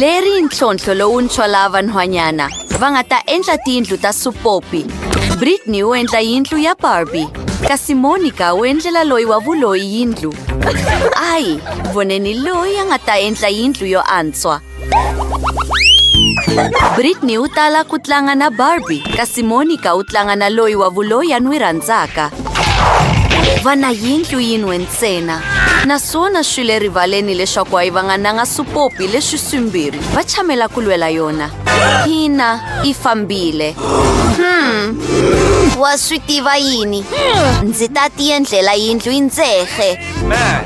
Leri ntlhontlho lowuntshwa laha vanhwanyana va nga ta endla tiyindlu ta supopi. Britney u endla yindlu ya Barbie, kasi Monica u endlela loyi wa vuloyi yindlu. Ai, voneni loyi a nga ta endla yindlu yo antswa. Britney u tala ku tlanga na Barbie, kasi Monica u tlanga na loyi wa vuloyi a n'wi rhandzaka. va na yindlu yin'we ntsena naswona swi le rivaleni leswaku a yi va nga nanga supopi leswi swimbirhi va chamela ku lwela yona hina yi fambile hmm wa swi tiva yini ndzi ta tiendlela yindlu yi ndzehe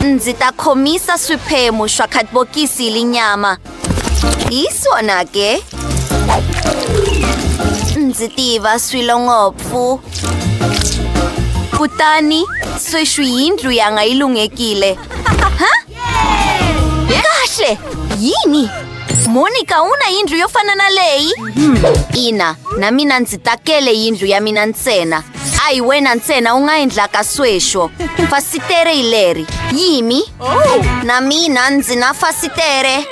ndzi ta khomisa swiphemu swa khatibokisi hi linyama Hi swona ke. Ndzi tiva swilo ngopfu. Kutani sweswi yindlu yanga yi lunghekile. Ha? Kahle! Yini? Monica u na yindlu yo fana na leyi? Ina, na mina ndzi takele yindlu ya mina ntsena. a hi wena ntsena u nga endlaka sweswo fasitere hi leri yimi na mina ndzi na fasitere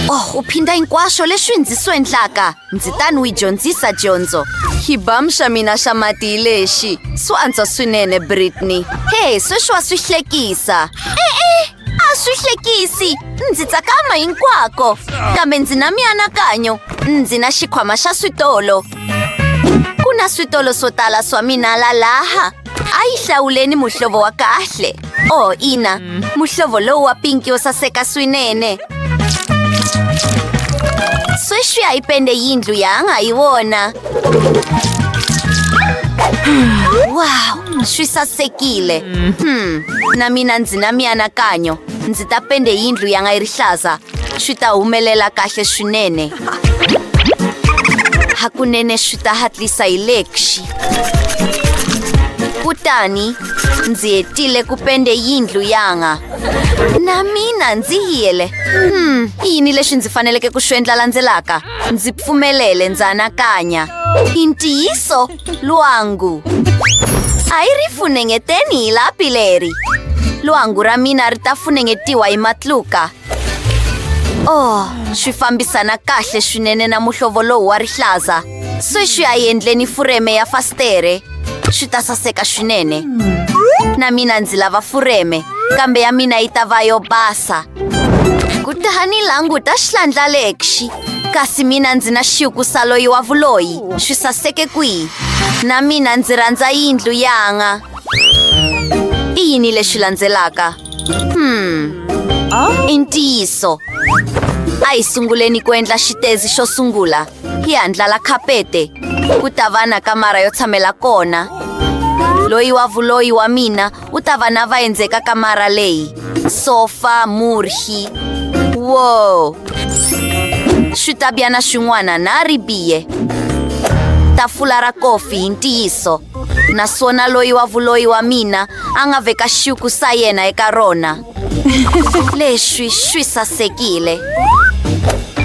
oh u phinda hinkwaswo leswi ndzi swi endlaka ndzi ta ni wi dyondzisa dyondzo xibam xa mina xa mati hi lexi swo antswa swinene britney he sweswi wa swi hlekisa e-e a swi hlekisi ndzi tsakama hinkwako kambe ndzi na mianakanyo ndzi na xikhwama xa switolo Ku na switolo swo tala swa mina la laha. A yi hlawuleni muhlovo wa kahle. Oh, ina. Muhlovo lowu wa pinki yo saseka swinene. Sweswi a yi pende yindlu yanga hi wona. Wow, swi sasekile. Hmm, na mina ndzi na mianakanyo. Ndzi ta pende yindlu yanga yi rihlaza. Swi ta humelela kahle swinene. Hakunene swi ta hatlisa hi le xi. Kutani ndzi hetile ku pende yindlu yanga. Na mina ndzi yele. Hmm, i yini lexi ndzi faneleke ku swi endla landzelaka? Ndzi pfumelele ndzi anakanya. I ntiyiso lwangu. A yi ri funengeteni hi lapi leri. Lwangu ra mina ri ta funengetiwa hi matluka. oh swi fambisana kahle swinene na muhlovo lowu wa rihlaza sweswi a yendleni fureme ya fastere swi ta saseka swinene na mina ndzi lava fureme kambe ya mina yi ta va yo basa kutani languta xihlandla lexi kasi mina ndzi na xiku sa loyi wa vuloyi swi saseke kwihi na mina ndzi rhandza yindlu yanga i yini lexi landzelaka Hmm. Oh? I ntiyiso. A hi sunguleni ku endla xitezi xo sungula. Hi handlala khapete. Ku ta va na kamara yo tshamela kona. Loyi wa vuloyi wa mina u ta va na vaendzeka kamara leyi. Sofa, murhi. Wow! Switabyana swin'wana na ribiye. Tafula ra kofi hi ntiyiso. naswona loyi wa vuloyi wa mina a nga veka xiku sa yena eka rona leswi swi sasekile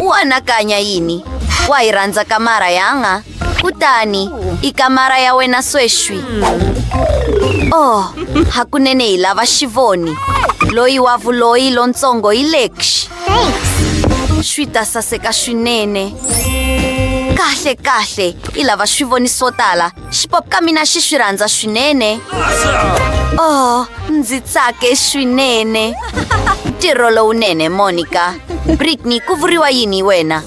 u anakanya yini wa hi rhandza kamara yanga kutani i kamara ya wena sweswi oh hakunene hi lava xivoni loyi wa vuloyi lontsongo hi lexi Thanks. Swi ta saseka swinene. Kahle kahle, i lava swi voni swo tala. Xipop ka mina xi swi rhandza swinene. Oh, ndzi tsake swinene. Ntirho lowunene, Monica. Britney, ku vuriwa yini wena?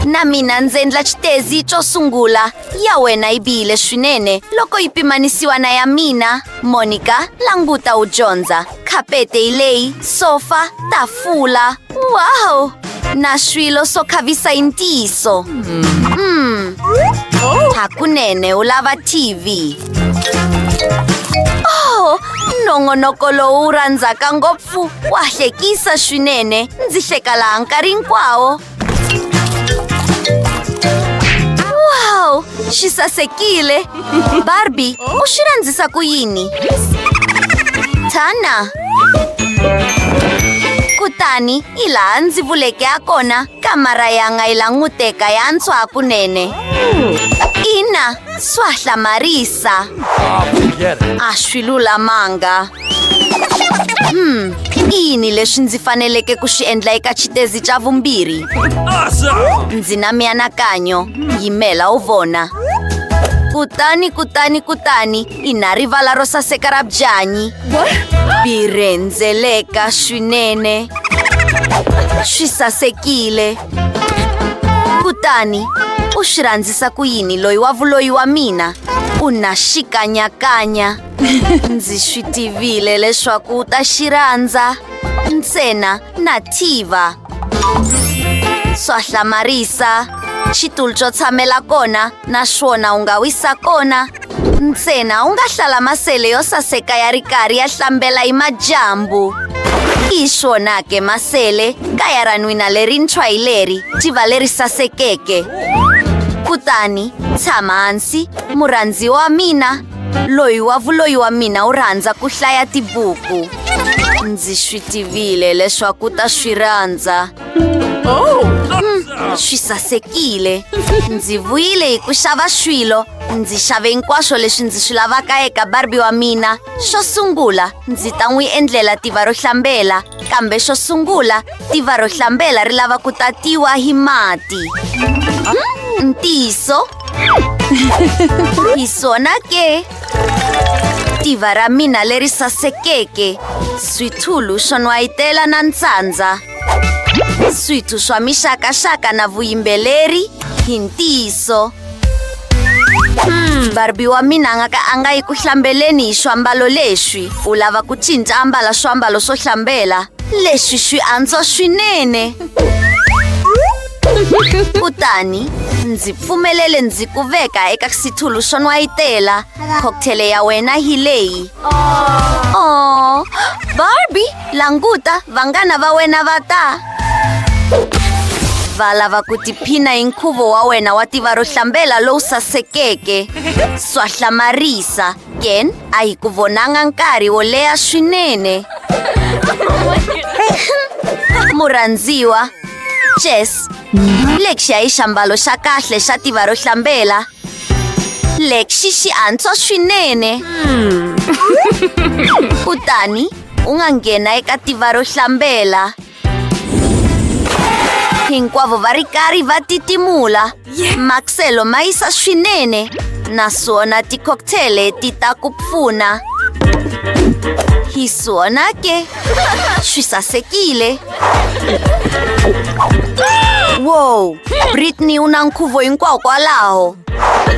Na mina ndzi endla xitezi xo sungula. Ya wena yi bihile swinene loko yi pimanisiwa na ya mina. Monica, languta u dyondza. Kapete leyi, sofa, tafula. Wow! Na swilo swo khavisa hi ntiyiso. Mm. Hakunene u lava TV. Oh, nongonoko lowu wu rhandzaka ngopfu wa hlekisa swinene. Ndzi hleka laha nkarhi hinkwawo. Wow! Și sasechiile! Barbie, o și ranzisa cu Ini! Tana! kutani hi laha ndzi vuleke ya kona kamara yanga yi languteka ya ntswa kunene ina swa hlamarisa a swi lulamanga Hmm, i yini leswi ndzi faneleke ku swi endla eka xitezi xa vumbirhi ndzi na mianakanyo yimela u vona kutani kutani kutani i na rivala ro saseka ra byanyi bi rhendzeleka swinene swi sasekile kutani u swi rhandzisa ku yini loyi wa vuloyi wa mina u na xikanyakanya ndzi swi tivile leswaku u ta xirhandza ntsena na tiva swa hlamarisa xitulu xo tshamela kona naswona u nga wisa kona ntsena u nga hlala masele yo saseka ya ri karhi ya hlambela hi madyambu hi swona ke masele kaya ra n'wina lerintshwa hi leri tiva leri sasekeke kutani tshama hansi murhandziwa wa mina loyi wa vuloyi wa mina u rhandza ku hlaya tibuku ndzi swi tivile leswaku u ta swi rhandza oh, hmm, swi sasekile ndzi vuyile hi ku xava swilo ndzi xave hinkwaswo leswi ndzi swi lavaka eka barbi wa mina xo sungula ndzi ta n'wi endlela tiva ro hlambela kambe xo sungula tiva ro hlambela ri lava ku tatiwa hi mati hmm, ntiyiso y suena que... Tivara mina leri sasekeke. Switulu swo nwayitela na ntsandza. Switu swa mixakaxaka na vuyimbeleri hi ntiyiso. Hmm. Barbie wa mina nga ka a nga yi ku hlambeleni hi swiambalo leswi. U lava ku cinca ambala swiambalo swo hlambela. Leswi swi antswa swinene. kutani ndzi pfumelele ndzi ku veka eka xitulu xo nwayitela cocktail ya wena hi leyi oh barbi languta vanghana va wena va ta va lava ku tiphina hi nkhuvo wa wena wa tiva ro hlambela lowu sasekeke swa hlamarisa Yen a hi ku vonanga nkarhi wo leha swinene. Murhandziwa, Jess, lexi ya hi xiambalo xa kahle xa tiva ro hlambela. Lexi xi antswa swinene. Kutani u nga nghena eka tiva ro hlambela. Hinkwavo va ri karhi va titimula. Maxelo ma yisa swinene naswona ti-cocktail ti ta ku pfuna. Hi swona ke swi sasekile. Wow, Britney u na nkhuvo hinkwawo kwalaho.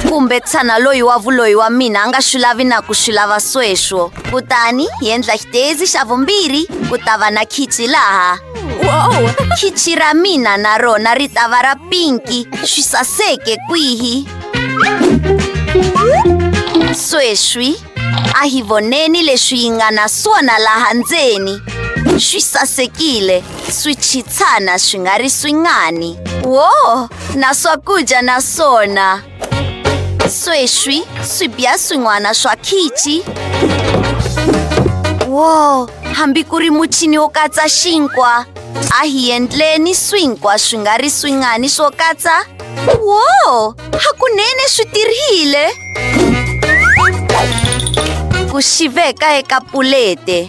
Kumbe tshana loyi wa vuloyi wa mina a nga swi lavi na ku swi lava sweswo. kutani hi endla xitezi xa vumbirhi ku ta va na khichi laha wow khichi ra mina na rona ri ta va ra pinki swi saseke kwihi sweswi a hi voneni leswi yi nga na swona laha ndzeni swi sasekile swi chitshana swi nga ri swingani wo na swakudya na swona sweswi swi biya swin'wana swa khichi wo hambi ku ri muchini wo katsa xinkwa a hi endleni swinkwa swi nga ri swingani swo katsa wo hakunene swi tirhile ku xiveka eka pulete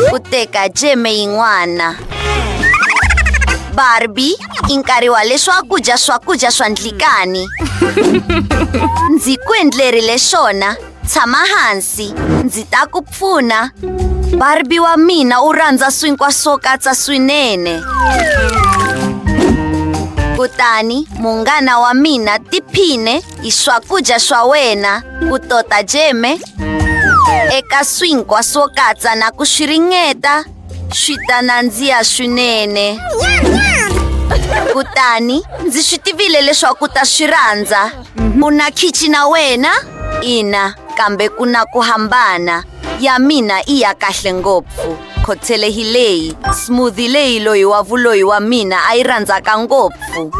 ku teka jeme yin'wana barbi i nkarhi wa leswaku dya swakudya swa ndlikani ndzi ku endlerile swona tshama hansi ndzi ta ku pfuna barbi wa mina u rhandza swinkwa swo katsa swinene kutani munghana wa mina tiphine hi swakudya swa wena ku tota jeme eka swinkwa swo katsa na ku swi ringeta swi ta nandziha swinene kutani ndzi swi tivile leswaku u ta swi rhandza mhm. u na khichi na wena ina kambe ku na ku hambana ya mina i ya kahle ngopfu khothele hi leyi smoothi leyi loyi wa vuloyi wa mina a yi rhandzaka ngopfu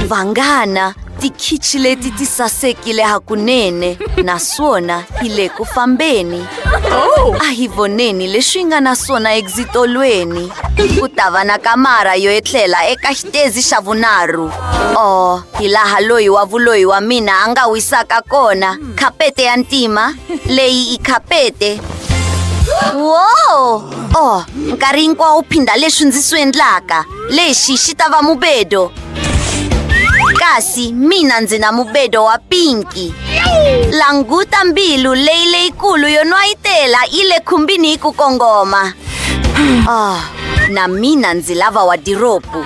vanghana Tikhichi leti ti sasekile hakunene naswona hi le ku fambeni. Oh. A hi voneni leswi nga na swona egzitolweni. Ku ta va na kamara yo etlela eka xitezi xa vunharhu. Oh, hi laha loyi wa vuloyi wa mina a nga wisaka kona. Khapete ya ntima, leyi i khapete. Wow! Oh, nkarhi hinkwawo phinda leswi ndzi swi endlaka. Lexi xi ta va mubedo. kasi mina ndzi na mubedo wa pinki languta mbilu leyi leyikulu yo nwayitela yi le khumbini hi ku kongoma oh, na mina ndzi lava wadiropu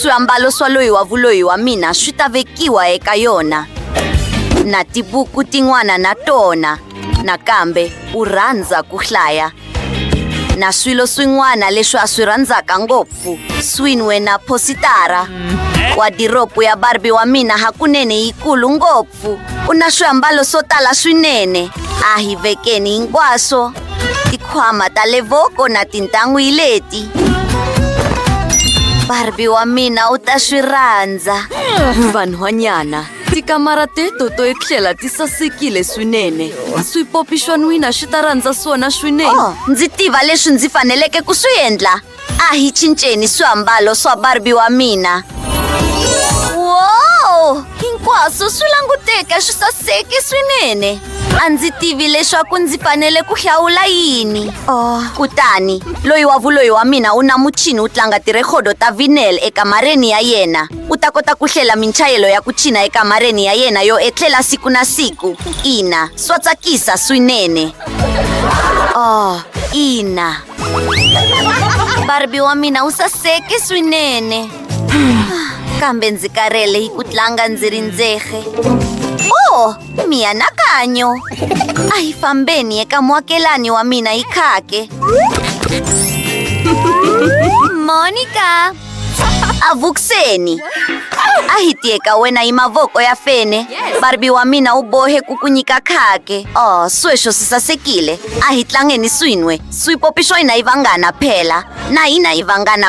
swiambalo swa loyi wa vuloyi wa mina swi ta vekiwa eka yona na tibuku tin'wana na tona nakambe u rhandza ku hlaya na swilo swin'wana leswi a swi rhandzaka ngopfu swin'we na phositara wadiropu ya barbi wa mina hakunene yikulu ngopfu u na swiambalo swo tala swinene a hi vekeni hinkwaswo tikhwama ta le voko na tintan'wi leti barbi wa mina u ta swi rhandza vanhwanyana Tikamara teto to etlela ti sasekile swinene. Swipopi swa n'wina swi ta rhandza swona swinene. Oh, ndzi tiva leswi ndzi faneleke ku swi endla. A hi cinceni swiambalo swa Barbie wa mina. Wow! Hinkwaswo swi languteka swi saseke swinene. A ndzi tivi leswaku ndzi fanele ku hlawula yini. Oh, kutani loyi wa vuloyi wa mina u na muchini wu tlanga tirhekhodo ta vinyl ekamareni ya yena. U ta kota ku hlela minchayelo ya ku china ekamareni ya yena yo etlela siku na siku. Ina, swa tsakisa swinene. Oh, ina. Barbie wa mina u saseke swinene. Kambe ndzi karhele hi ku tlanga ndzi ri ndzexe. Oh, mianakanyo. A hi fambeni eka muakelani wa mina hi khake. Monica! avuxeni a hi tiye ka wena hi mavoko ya fene barbi wa mina u bohe ku ku nyika khake o sweswo swi sasekile a hi tlangeni swin'we swipopi swa hina yi vangana phela na hina yi vangana